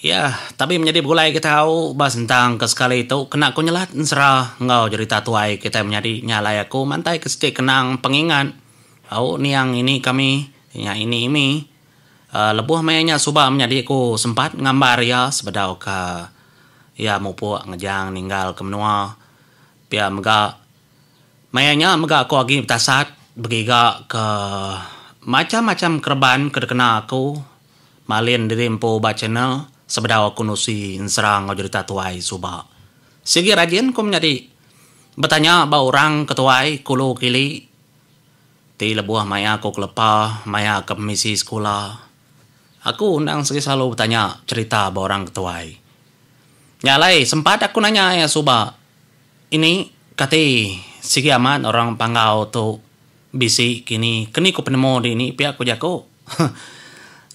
Iya, tabi menyadi begulai ke tau ba sentang ke sekali tu kena ku nyelat ensera enggau jerita tuai kitai menyadi nya alai aku mantai ke siti kenang pengingat au niang ini kami nya ini imi um lebuh maya nya suba menyadi ku sempat ngambar iya sebedau ka iya mupuk ngejang ninggal ke menua. Pia mega, maya nya mega aku agi betasat begiga ke macham-macham kereban ke dikena aku malin diri empu ba channel sebedau aku nusi ensera enggau jerita tuai suba. Sigi rajin aku menyadi betanya ba orang ke tuai ke ulu kili ti lebuh maya aku kelepa maya ke pemisi sekula. Aku endang sigi selalu betanya cerita ba orang ke tuai. Nya alai sempat aku nanya iya suba ini kati sigi amat orang Panggau tu bisi kini keni ku penemu dini pia ku jaku.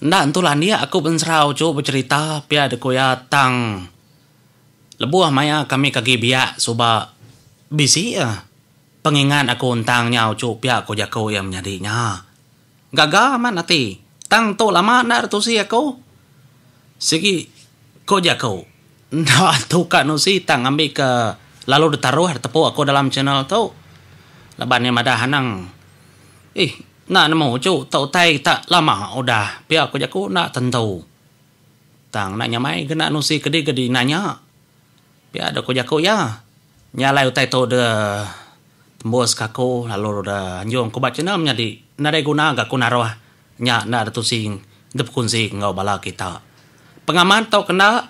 Enda entu landik aku ba Enserau tu becerita pia da ku iya tang lebuh maya kami ke agi biak suba bisi pengingat aku tentang nyau tu pia ku jaku iya menyadi nya. Gaga amat ati. Tang tu lama enda deh tusi aku. Sigi ko jaku enda tu ka nusi tang ngambi ke lalu ditaruh ditepu aku dalam channel tu. Laban iya madah anang ih enda nemu uchu tu utai ta lama udah pia ko jaku enda tentu. Tang enda nyamai ke enda nusi kedi ke dinanya. Pia dau ku jaku iya, nya alai utai tu deh tembus ke aku lalu deh anjung ku ba channel menyadi nadai guna ga ku naruh nya enda deh tusi bekunsi enggau bala kita. Pengaman tu kena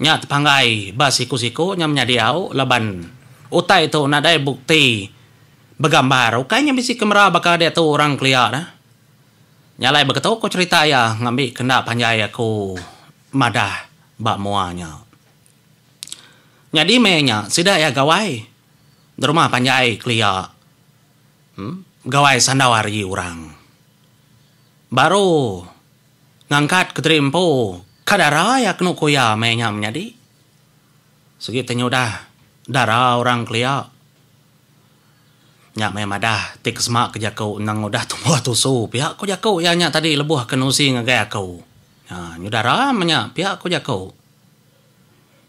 nya tepanggai ba siku-siku nya menyadi au laban utai tu nadai bukti begambar ukai nya bisi kamera baka diatu orang kelia neh. Nya alai baka tu ku cherita iya ngambi kenda panjai aku madah ba mua nya. Nyadi maya nya sida iya Gawai derumah panjai kelia Gawai sandau ari orang baru ngangkat Kediri Empu ka dara iya kenu ku iya maya nya menyadi sigi ti nyudah dara orang kelia nya meh madah ti kesema ke jaku endang udah tumbuh tusu pia ku jaku iya nya tadi lebuh ke nusi ngagai aku nya dara meh nya pia ku jaku.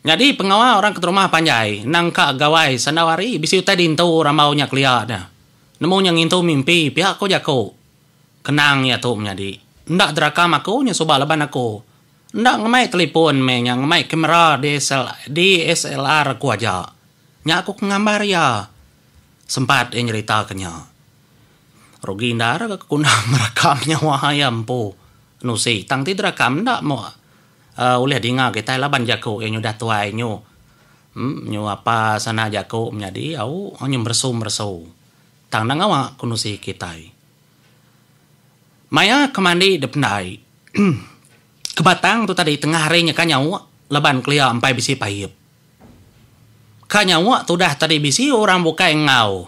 Nyadi pengawa orang keterumah panjai endang ka gawai sandau hari bisi utai dintu rambau nya kelia nya. Nemu nya ngintu mimpi pia ko jaku. Kenang ia tu menyadi. Enda derakam aku nya suba laban aku enda ngemai telipon meh nya ngemai kamera DSLR aku aja. Nya aku ke ngambar ia sempat ia nyerita ke nya. Rugi endar ke guna merakam nyawa ia empu. Nusi tang ti derakam enda moh. Aa ulih dinga kitai laban jaku iya nyudah tuai nyu nyu apa sana jaku menyadi au nyu meresu meresu tang enda ngawa kenusi kitai. Maya ke mandi dependai ke batang tu tadi tengah hari nyeka nyawa laban kelia empai bisi paiep. Ka nyawa tudah tadi bisi orang bukai enggau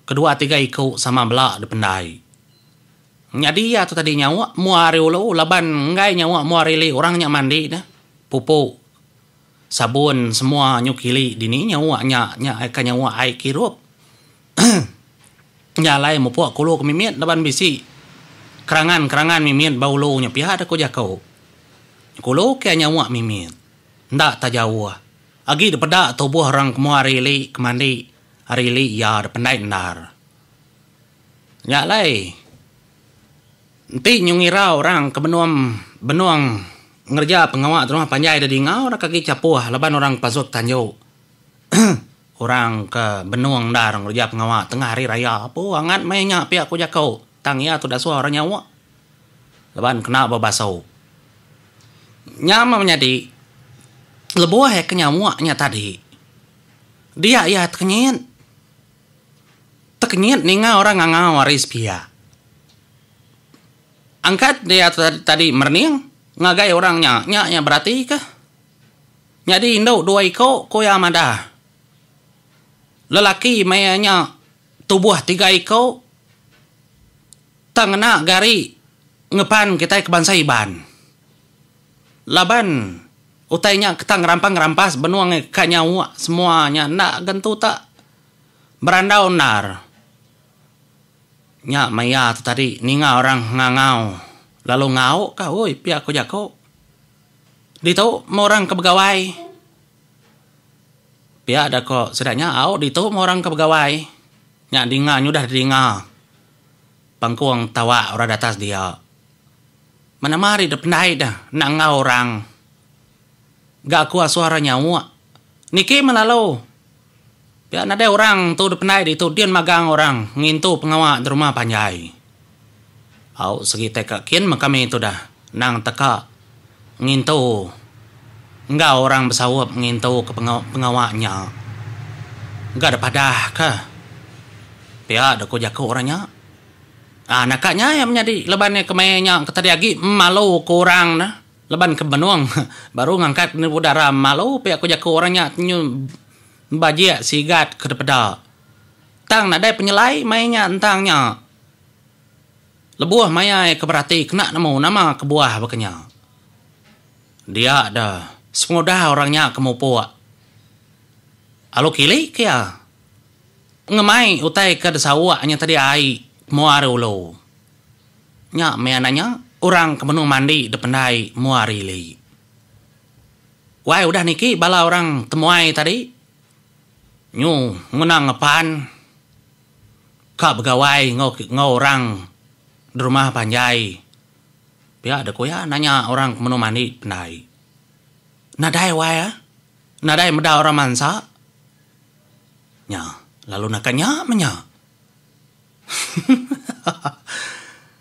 Kedua tiga iku sama bela dipendai. Nyadi iya tu tadi nyawa mua ari ulu laban enggai nyawa mua ari ili orang nya mandi ne, pupu, sabun semua nyuk ili dini nyawa nya nya ka nyawa ai kirup. Nya alai mupuk ke ulu ke mimit laban bisi kerangan-kerangan mimit ba ulu nya pia deh ku jaku. Nyuk ulu kia nyawa mimit. Enda ta jauh agi dipeda tubuh orang ke mua ari ili ke mandi Ari li iya da pendai endar. Nya alai enti nyu ngira orang ke benum benung ngereja pengawa terumah panjai da dingau rak agi chapoh laban orang pasut tanju orang ke benung endar ngereja pengawa tengah hari raya apu angat meh nya pia ku jaku tang iya tu dasuh orang nyawa laban kena ba basu. Nya meh menyadi lebuh iya ke nyawa nya tadi. Dia iya tekenyit. Tekenyit ninga orang ngangau ari sepia. Angkat dia tadi merening ngagai orang nya, nya iya beratika. Nyadi indu dua iku, ku iya madah. Lelaki meh iya nya tubuh tiga iku tang ngena gari ngepan kitai ke bansa Iban. Laban utai nya ketang ngerampang ngerampas benung angai ka nyawa semua nya enda gentu tak berandau endar. Nya maia tu tadi ninga orang ngangau lalu ngau ka oi pia ko jako. Ditu meh orang ke begawai. Pia da ko sida nya au ditu meh orang ke begawai. Nya dinga nyudah dinga pengkung tawa orang di atas dia. Menama ari dep ndai deh enda enggau orang ga aku asuh orang nyauk. Niki meh lalu pia nadai orang tu dep ndai ditu din magang orang ngintu pengawa di rumah panjai. Au segitai ka kin meh kami tudah nang teka ngintu enggau orang besaup ngintu ke pengawa nya ga dep adah ka pia deh ku jaku orang nya. Aa naka nya iya menyadi laban iya kemaya nya ke tadi agi malu ke orang ne laban ke benung baru ngangkat nubu dara malu pia ku jaku orang nya nyu bajik sigat ke depeda tang nadai penyelai mai nya ntang nya lebuh maya iya ke berati kena nemu nama kebuah baka nya dia da sepengudah orang nya ke mupuk lalu kili ke iya. Ngemai utai ke disawa nya tadi ai mua ari ulu. Nya mih anang nya orang ke menung mandi dipendai mua ari ili. Wai udah niki bala orang temuai tadi nyu nguna ngepan ka begawai enggau orang derumah panjai pia deh ku iya nanya orang ke menung mandi dipendai. Nadai wai ah nadai meda orang mansa. Nya, lalu naka nya meh nya.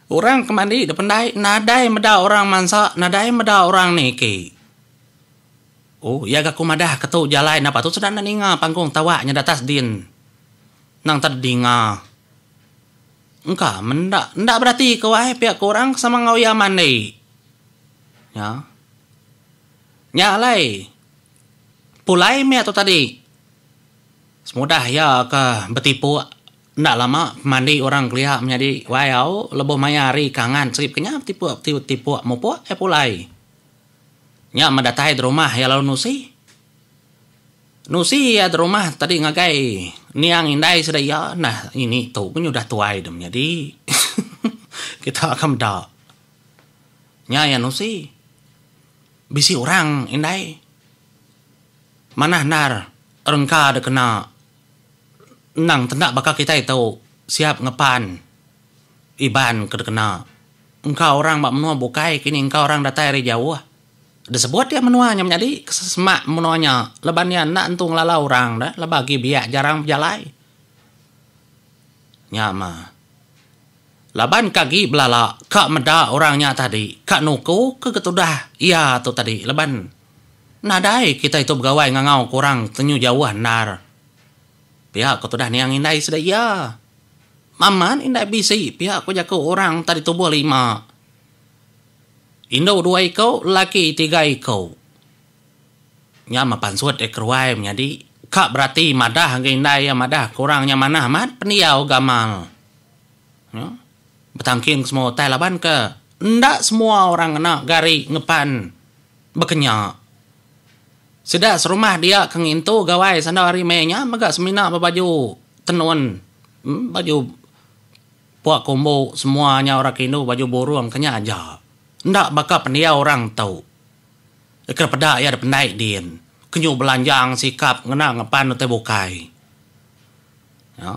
Orang ke mandi da pendai nadai meda orang mansa, nadai meda orang niki. Oh, iya ga ku madah ke tu jalai napa tu sida enda ninga panggung tawa nyada atas din. Nang tadi dinga. Engka menda, enda berati ke wai pia ke orang ke sama enggau iya mandi. Nya. Nya alai. Pulai meh tu tadi semudah iya ke betipuk enda lama mandi orang kelia menyadi wai au lebuh maya hari kangan serip kenyah betipuk ti betipuk mupuk iya pulai. Nya meh datai da rumah iya lalu nusi. Nusi iya da rumah tadi ngagai niang indai sida iya nah ngini tu nyudah tuai deh menyadi kita ka meda. Nya iya nusi. Bisi orang indai manah endar rengka da kena endang tenda baka kitai tu siap ngepan Iban ke dikena. Engka orang ba menua bukai kini engka orang datai ari jauh da sebut iya menua nya menyadi ke semak menua nya laban iya enda entu ngelala orang da laban agi biak jarang bejalai. Nya mah. Laban ke agi belala ka meda orang nya tadi ka nuku ke ketudah iya tu tadi laban nadai kitai tu begawai ngangau ke orang tenyu jauh endar. Pia ko tudah niang indai sida iya. Mamat indai bisi pia ko jaku orang tadi tubuh lima. Indu dua iko lelaki tiga iko. Nya meh pansut iya keruai menyadi ka berati madah agi indai iya madah ke orang nya manah amat pendiau gamal. Betangking ke semua utai laban ke enda semua orang ngena gari ngepan bekenya. Sida serumah dia ke ngintu gawai sanda hari meh nya mega semina ba baju tenun baju puak kombo semua nya orang ke indu baju burung ke nya aja. Enda baka pendiau orang tu ke peda iya dipendai din. Kenyau belanjang sikap ngena ngepan utai bukai. Nya.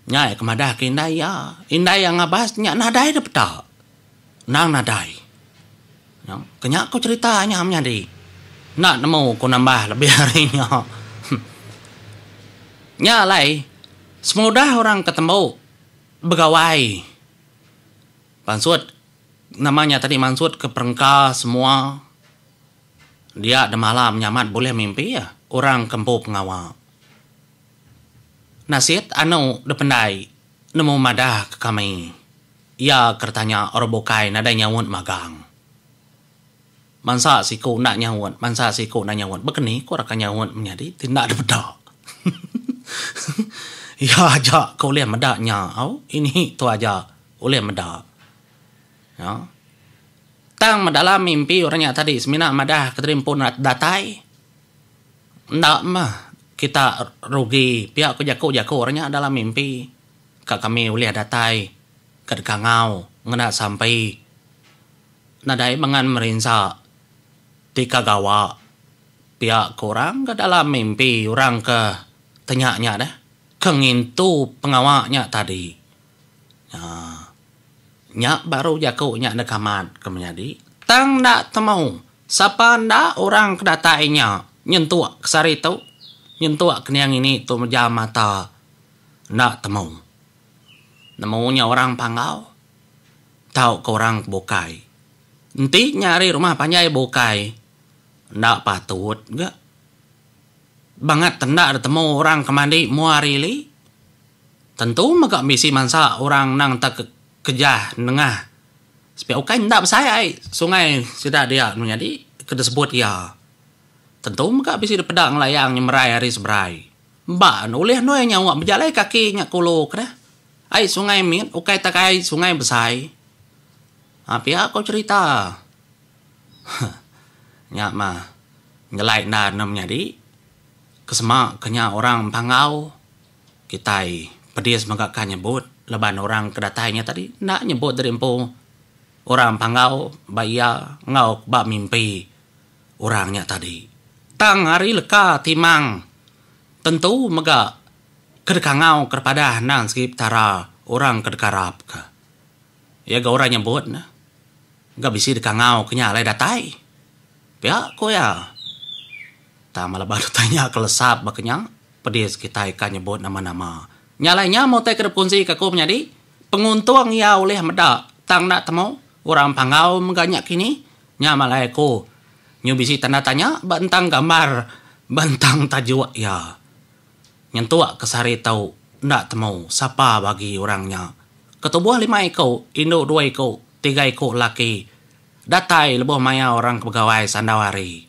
Nya iya ke madah ke indai iya. Indai iya ngabas nya nadai deh peta. Endang nadai. Nya. Ke nya ku cerita nya menyadi. Enda nemu ku nambah lebih ari nya. Nya alai, semudah orang ke tembu begawai pansut, nama nya tadi mansut ke perengka semua dia demalam nyamat bulih mimpi orang ke empu pengawa. Nasit anu dipendai nemu madah ke kami iya ke ditanya orang bukai nadai nyaut magang. Mansa siku enda nyaut mansa siku enda nyaut baka ni ko raka nyaut menyadi ti enda dipeda. Iya aja ke ulih meda nya au ini tu aja ulih meda aaa. Tang dalam mimpi orang nya tadi semina madah ke tadi empu datai. Enda mah. Kita rugi pia ku jaku-jaku orang nya dalam mimpi ka kami ulih datai ka dikangau ngena sampi nadai mengan merinsa ti ka gawa pia ku orang ka dalam mimpi orang ka tenya nya deh ke ngintu pengawa nya tadi. Um Nya baru jaku nya deka mat ke menyadi. Tang enda temu sapa enda orang ke datai nya nyentuk ke sehari tu, nyentuk ke niang ini tu mejam mata enda temu. Nemu nya orang panggau tauka orang ke bukai. Enti nya ari rumah panjai bukai enda patut ga bangat enda temu orang ke mandi mua hari ili. Tentu mega bisi mansa orang endang tekejah nengah sepiak ukai enda besai ai sungai sida dia anu nyadi ke disebut iya. Tentu mega bisi depeda ngelayang nyemerai ari seberai. Ba ne ulih endur iya nyawa bejalai kaki nya ke ulu ke deh. Ai sungai mit ukai tak ai sungai besai. Aa pia ko cherita. Huh nya mah ngelai enda ne menyadi ke sema ke nya orang Panggau. Kitai pedis mega ka nyebut laban orang ke datai nya tadi enda nyebut diri empu orang Panggau ba iya enggau ba mimpi orang nya tadi. Tang ari leka timang tentu mega ke dikangau ke dipadah endang segi Petara orang ke dikarap ka. Iya ga orang nyebut ne ga bisi dikangau ke nya alai datai. Pia ku iya. Tang meh laban utai nya ke lesap baka nya, pedis kitai ka nyebut nama-nama. Nya alai nya meh utai ke dep kunsi ka aku menyadi, penguntung iya ulih meda tang enda temu orang panggau mega nya kini. Nya meh alai aku nyu bisi tanda tanya ba entang gambar ba entang tajuk iya. Nyentuk ke sehari tu enda temu sapa bagi orang nya. Ketubuh lima iku, indu dua iku, tiga iku laki datai lebuh maya orang ke begawai sandau hari.